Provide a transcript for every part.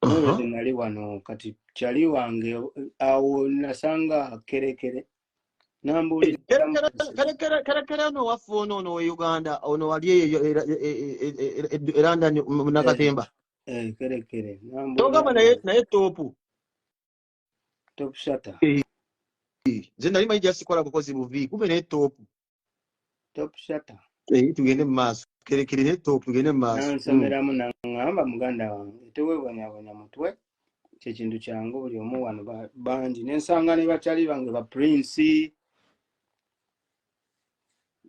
Mwebeze nali wano kati kyali wange awo nasanga kerekere nambuulirakerekere ono waffe ono ono we uganda ono wali eyo erandani munakatemba togamba naye topu top shutter eh, eh, nze nali manyi jasikola bukozi buvi kumbe naye top top shutter eh, tugende mu maaso kerekerere top tugende mu maaso nansomeramu mm. nangamba muganda wange tewebonyabonya mutwe kyekintu kyangu buli omu wano bangi nensanga ne bakyali bange ba prince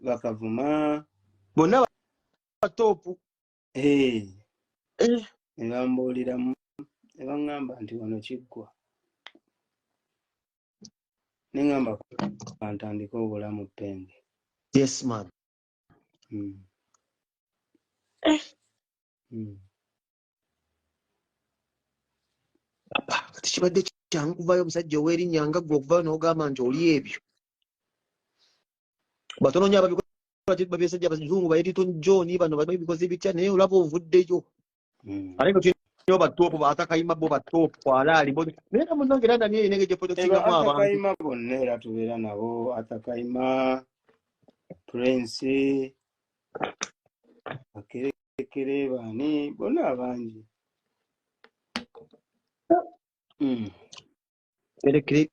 bakavuma bonna batopu Eh, Eh, ne bambuuliramu ne baŋŋamba nti wano kiggwa ne ŋŋamba kantandike obulamu penge yes man Mm. Eh. Mm. Papa, kati kibadde kyangu kuvayo omusajja ow'erinnya nga ggwe okuvayo n'ogamba nti oli ebyo batono nnyo ababikola bazungu bayeriton john bano bamanyi bikoze bitya naye olaba ovuddeyo hmm. ate ngatulinayo batoopu batakayima bo batoopu kwalaali naye era munange era nani eyinenge gyepotokingamu abantuatakayima bonna era tubeera nabo atakayima prince akerekere baani bonna abangi hmm. kerekere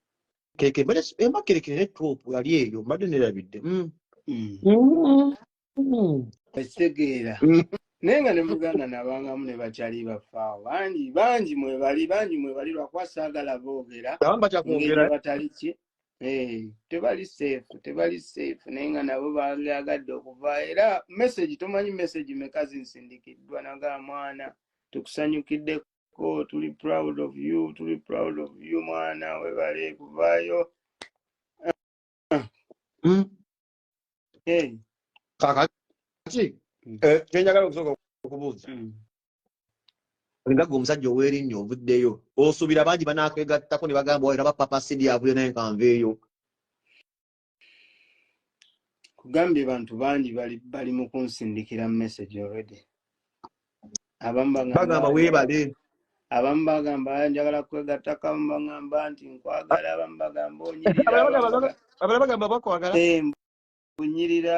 kerekere mbadde si- emba kerekere ne top yali eyo mbadde nerabidde mm. Mm. Mm. Mm. ekitegeera Mm. naye nga ne muganda nabangamu ne bakyali bafaawo bangi bangi mwebali bangi mwebali lwakuba saagala boogera abamu ngeri bakyakwogera eh? batali ki Eh, tebali safe tebali safe naye nga nabo bayagadde okuva era message tomanyi message meka zinsindikiddwa naga mwana tukusanyukidde ko tuli proud of you tuli proud of you mwana webale kuvaayo Mm. hey. kakati Mm. eh, kyenjagala okusooka okubuuza mm. nga gwe omusajja ow'erinnya ovuddeyo osuubira bangi banakwegattako ne bagamba olaba papa sidi avuyo naye nkanveeyo kugambye bantu bangi bali bali mu kunsindikira message already abamu bagamba bagamba weebale abamu bagamba njagala kwegatta kamu bagamba nti nkwagala abamu bagamba onyirira abala abamu bagamba- bagamba- abala bagamba bakwagala Eh, mbu onyirira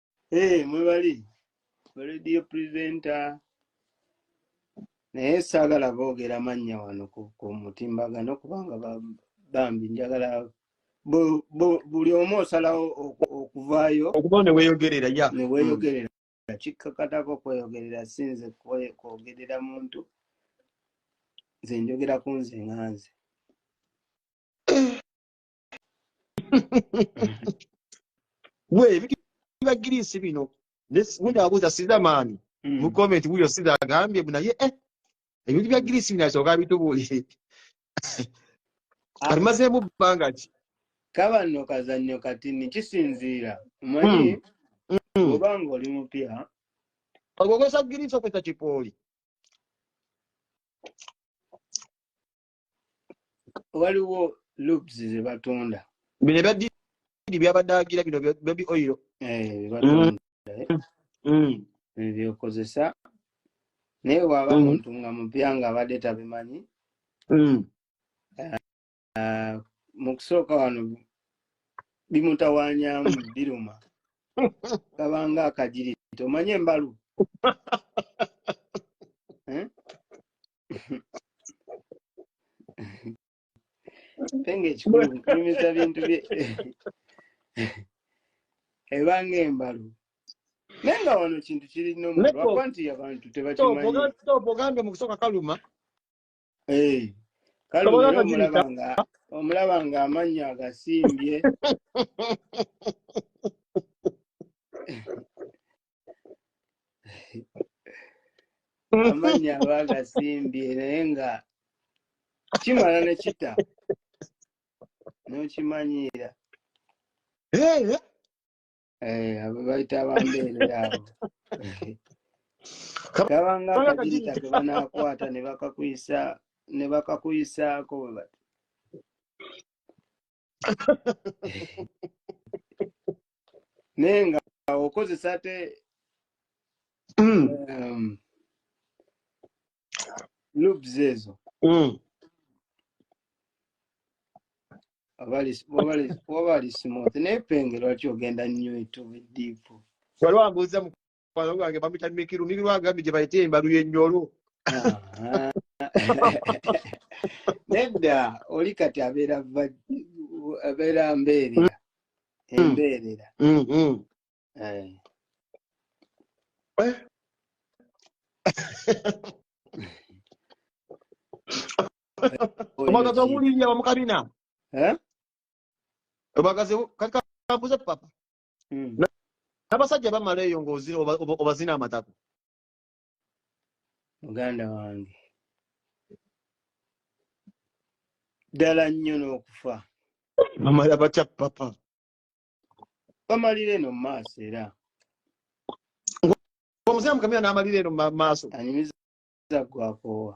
Hey, mwebali radio presenter naye saagala boogera mannya wano ku ku mutimbagano kubanga ba- bambi njagala bu- bu- buli omu osalawo oku- okuvaayo okuba ne weeyogerera ya ne Mm. weeyogerera kikkakatako kweyogerera si nze kwe- kwogerera muntu nze njogera ku nze nga nze we biba girisi bino gundi abuuza siza maani hmm. mu komenti wuyo siza agambye bu naye eh, ebintu bya girisi bino asooka bitubuulire ah. alimazeemu bbanga ki kabanno kazannyo kati ni kisinziira omanyi hmm. hmm. oba nga oli mupya ogwokozesa girisi okozesa kipooli waliwo loops ze batunda bino ebya didi byabadde agira bino baby oil eh, batunda eh. mm. mm. byokozesa naye waba mm. muntu nga mupya nga abadde tabimanyi mm. eh, eh, mu kusooka wano bimutawanyamu biruma kabanga akagiriti omanye embalu eh? penge ekikulu kunyumiza bintu bye ebanga embalu naye nga wano kintu kiri nomulwakuba nti abantu tebakimanyiogambye mu kusooka kaluma eh, kaluma omulaba nga amannya agasimbye amannya aba agasimbye naye nga kimala ne kita n'okimanyiira Eh, Eh, abo bayita abambeerera abo kaba- kabanga kabanga akajirita akajirita. ke banaakwata ne bakakuyisa ne bakakuyisaako bwe bati naye nga okozesa ate mm. um, loops ezo mm. waba ali smooth naye penge lwaki ogenda nnyo etubidiipu waliwo ambuuza Bano bange bamuyita mikiru mikiru agambye gye bayita embalu y'ennyolo Aha. nedda oli kati abeera va- abeera mbeerera Mm, embeerera mm, mm. Eh. Eh, Oyo omwagazi ki- omuwulirira bamukabina Eh? omwagazi kati kambuze papa Mm. n'abasajja bamala eyo ng'ozina oba- oba- obazina amatako muganda wange ddala nnyo n'okufa bamala batya papa bamalira eno mu maaso era omuzeeyi mukamira n'amalira eno mu ma- maaso anyumiza gwakoowa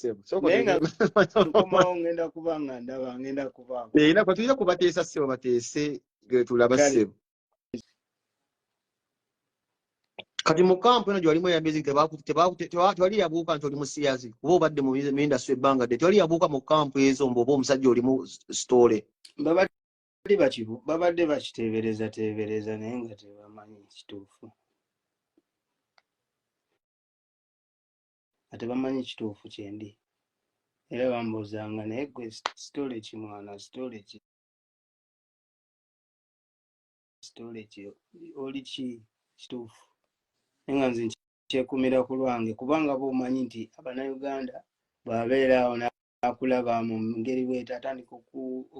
sebo soko naye nga nkomawo ngenda kuba nga ndaba ngenda kubaako eh, era kwatuyina kubateesa sebo bateese getulaba sebo kati mu kampu eno gyewalimu eyamezi tewali yabuuka nti oli musiyazi kuba obadde mu industry ebbanga dde tewali yabuuka mu kampu ezo mbu oba omusajja olimu story babadde bakibu babadde bakiteebereza teebereza naye nga tebamanyi kituufu nga tebamanyi kituufu kyendi era bambuuzanga naye gwe sitole ki mwana sitole ki sitole ki oli ki kituufu naye nga nze kyekumira ku lwange kubanga boomanyi nti abanauganda bwabeeraawo akulaba mu ngeri bweta atandika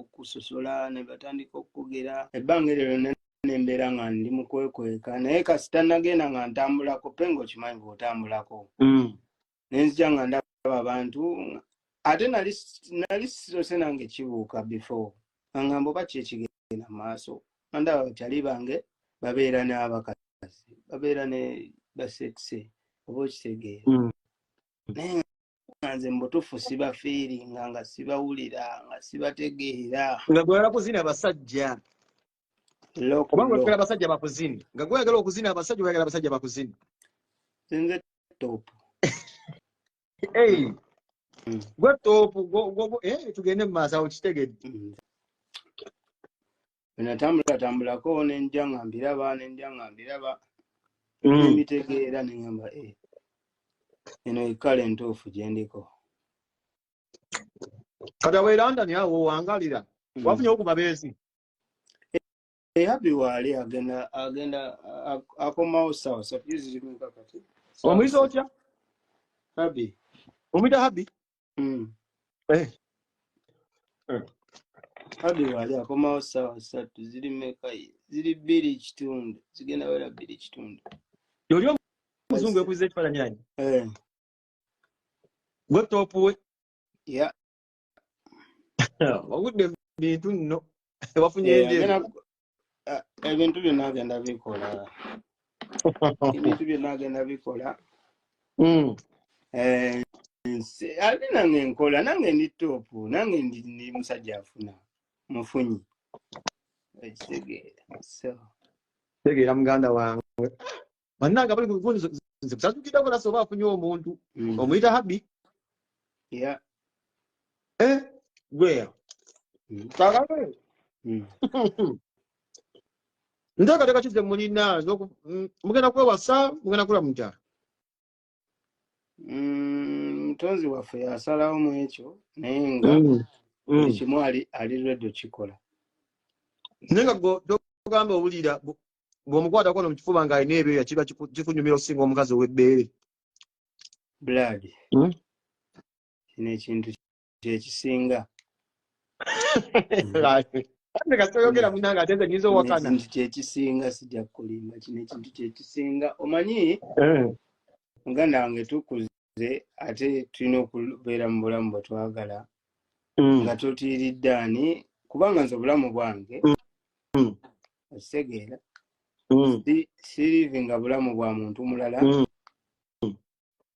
okusosola nebatandika okugera ebbanga eryo lyonna nembeera nga ndi mukwekweka naye kasita nagenda nga ntambulako pe nga okimanyi bwotambulako mm. nenzija nga ndaba abantu ate nali sisose nange kibuuka before angambo bakyekigenda maaso andaba bakyali bange babeera n'abakazi babeera ne basekise oba okitegeera mm. naye nze mubutufu sibafiiringa nga sibawulira nga sibategeera nga gwala kuzina basajja kubanga oyagala abasajja bakuzini nga gweyagala okuzina abasajja oyagala abasajja bakuzini nze top mm. gwe top eh, tugende mu maaso awo kitegedde mm. bwenatambula tambulako nenja nga mbiraba nenja nga mbiraba mm. nemitegeera nengamba e eh, eno ekala entuufu gyendiko kati awo erandani awo wangalira mm. wafunye okuba beezi eyabi waali agenda agenda akomawo sawa sapizi zirimuka kati omuyizi otya habi omuyita habi Mm. Eh. Eh. Hadi wali akomawo sawa satu ziri meka ziri biri kitundu zigenda wera biri kitundu yoli omuzungu ekuze ekifaananyi anyi eh. gwe topu we ya wagudde bintu nno wafunye enjeru Ah, ebintu byonna agenda bikola ebintu byonna agenda bikola Mm. Eh, nse- ate nange nkola nange ndi topu nange ndi ndi musajja afuna mufunyi ekitegeera so tegeera muganda wange bannange abali mu bivundi nze bsatukiddako lasa oba afunye omuntu mm. omuyita habi eh, gweya mm. kagabe mm. nteekateeka kize mulina mugenda kwewasa mugenda kula mukyalo Mm, mutonzi waffe yasalawo mu ekyo naye nga Mm, buli mm. kimu ali ali ready okikola naye nga gwe kyogamba owulira bw- bw'omukwatako no mu kifuba ng'alina ebyoya kiba kiku- kikunyumira okusinga omukazi ow'ebbeere blood Mm. kino ekintu kyekisinga nti kyekisinga sijja kulimba kino ekintu kyekisinga omanyi eh. muganda wange tukuze ate tulina okubeera mu bulamu bwetwagala mm. nga totiiridde ani kubanga nze obulamu bwange mm. Mm. okitegeera sirivinga bulamu bwa muntu mulala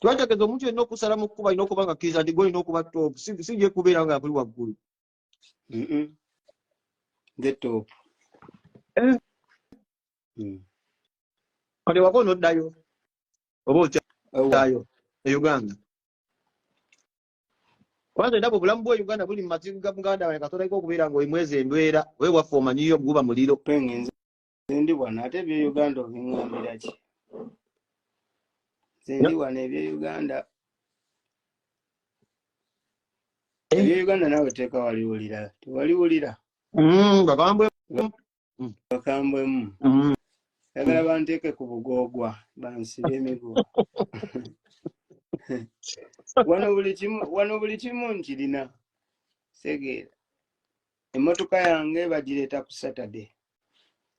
twategeza omuntu yenna okusala mu kkuba alina okuba nga kkiriza nti golina okuba top si gye kubeera nga buli waggulu eh. mm. kati wako noddayo oba otyayo e uganda kwanze ndaba obulamu bwa uganda buli mu mazibu ga muganda wange katonda ika okubeera nga oimwezi embeera wewaffe omanyiyo guba muliro Nzendi wano ate ebyo Uganda obingambira ki? Nzendi wano ebyo Uganda. Eh. Ebyo Uganda nawe teka wali ulira. Wali ulira. Mm, bakambwe. Mm. Bakambwe. Mm. mm. Yagala banteke ku bugogwa bansi bemigo. Wano buli kimu wano buli kimu nkirina. Segera. Emotoka yange badireta ku Saturday.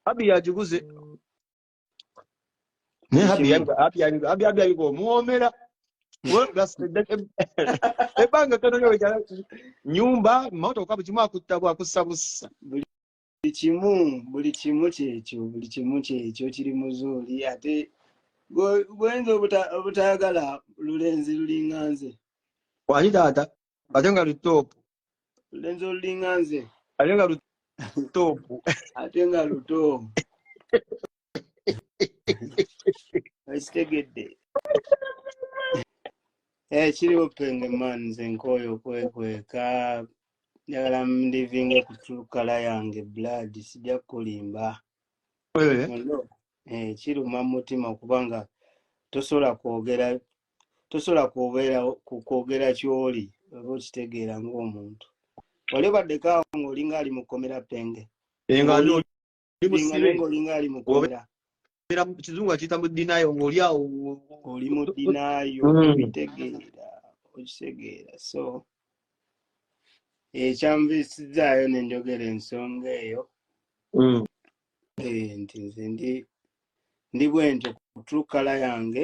abi yagiguze naye abi yabiga abi yabiga abi abi yabiga omuwoomera ebbanga tono yo nyumba motoka buli kimu akutta bwakussa bussa buli kimu buli kimu kyekyo buli kimu kyekyo kiri muzuuli ate gwenza obutayagala lulenzi lulinga nze wali taata ate nga lutoopu lenzo lulinga nze ate nga lutoopu ate nga luto ekitegedde eh, kiriwo penge man nze nkooyo okwekweka njagala mlivinga kuculukala yange blood sijja kukulimba eh. Ono, eh, kiruma mu mutima kubanga tosobola kwogera tosobola kubeera ku kwogera ky'oli oba okitegeera ng'omuntu wali obaddeko awo ng'olinga ali mu kkomera penge ng'olinga ali mu kkomera kizungu akiyita mu dinayo ng'oli awo oli mu dinayo mm. okitegeera okitegeera so ekyanviisizzaayo eh, nenjogera ensonga eyo mm. eh, nti nze ndi ndi bwentyo kutrukala yange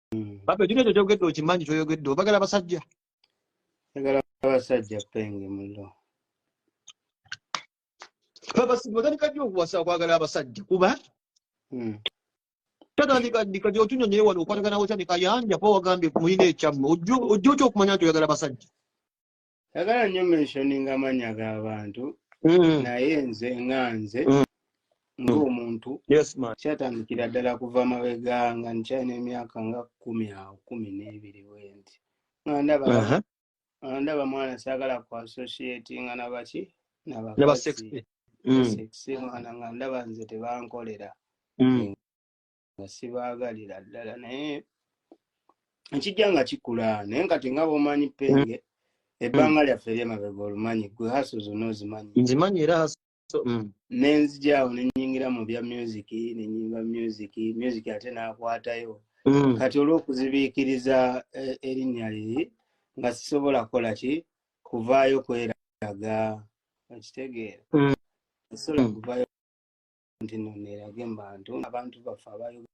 Baba ekyo ekyo kyogedde okimanyi kyoyogedde obagala abasajja. Njagala abasajja penge mullo. Baba simutandika nnyo okuwasa okwagala abasajja kuba hmm. tatandika ndika gyotunyonyoye wano okwatagana otya nekayanja pa wagambye kumuyina ekyamme ojja otya okumanya nti oyagala abasajja. sagala nnyo mentioning amannya g'abantu mm. naye nze nga nze mm. ng'omuntu kyatandikira ddala kuva mabega nga nkyalina emyaka nga kumi awo kumi n'ebiri wendi nga ndaba uh-huh. ndaba mwana saagala ku associatinga nabaki nabasexi mm. mwana nga ndaba nze tebankolera nga sibaagalira ddala naye ekijja nga kikula naye nga tinga bomanyi mm. penge ebbanga mm. lyaffe eryemabega olumanyi gwe haso zonna ozimanyi nzimanyi era haso mm. nenzijaawo nenyingira mu bya music nenyimba music music ate nakwatayo kati olwokuzibiikiriza e, erinnya liri nga sisobola kukola ki kuvaayo kweraga okitegeera osobola kuvayo nti no nerage mubantu abantu baffe abayogera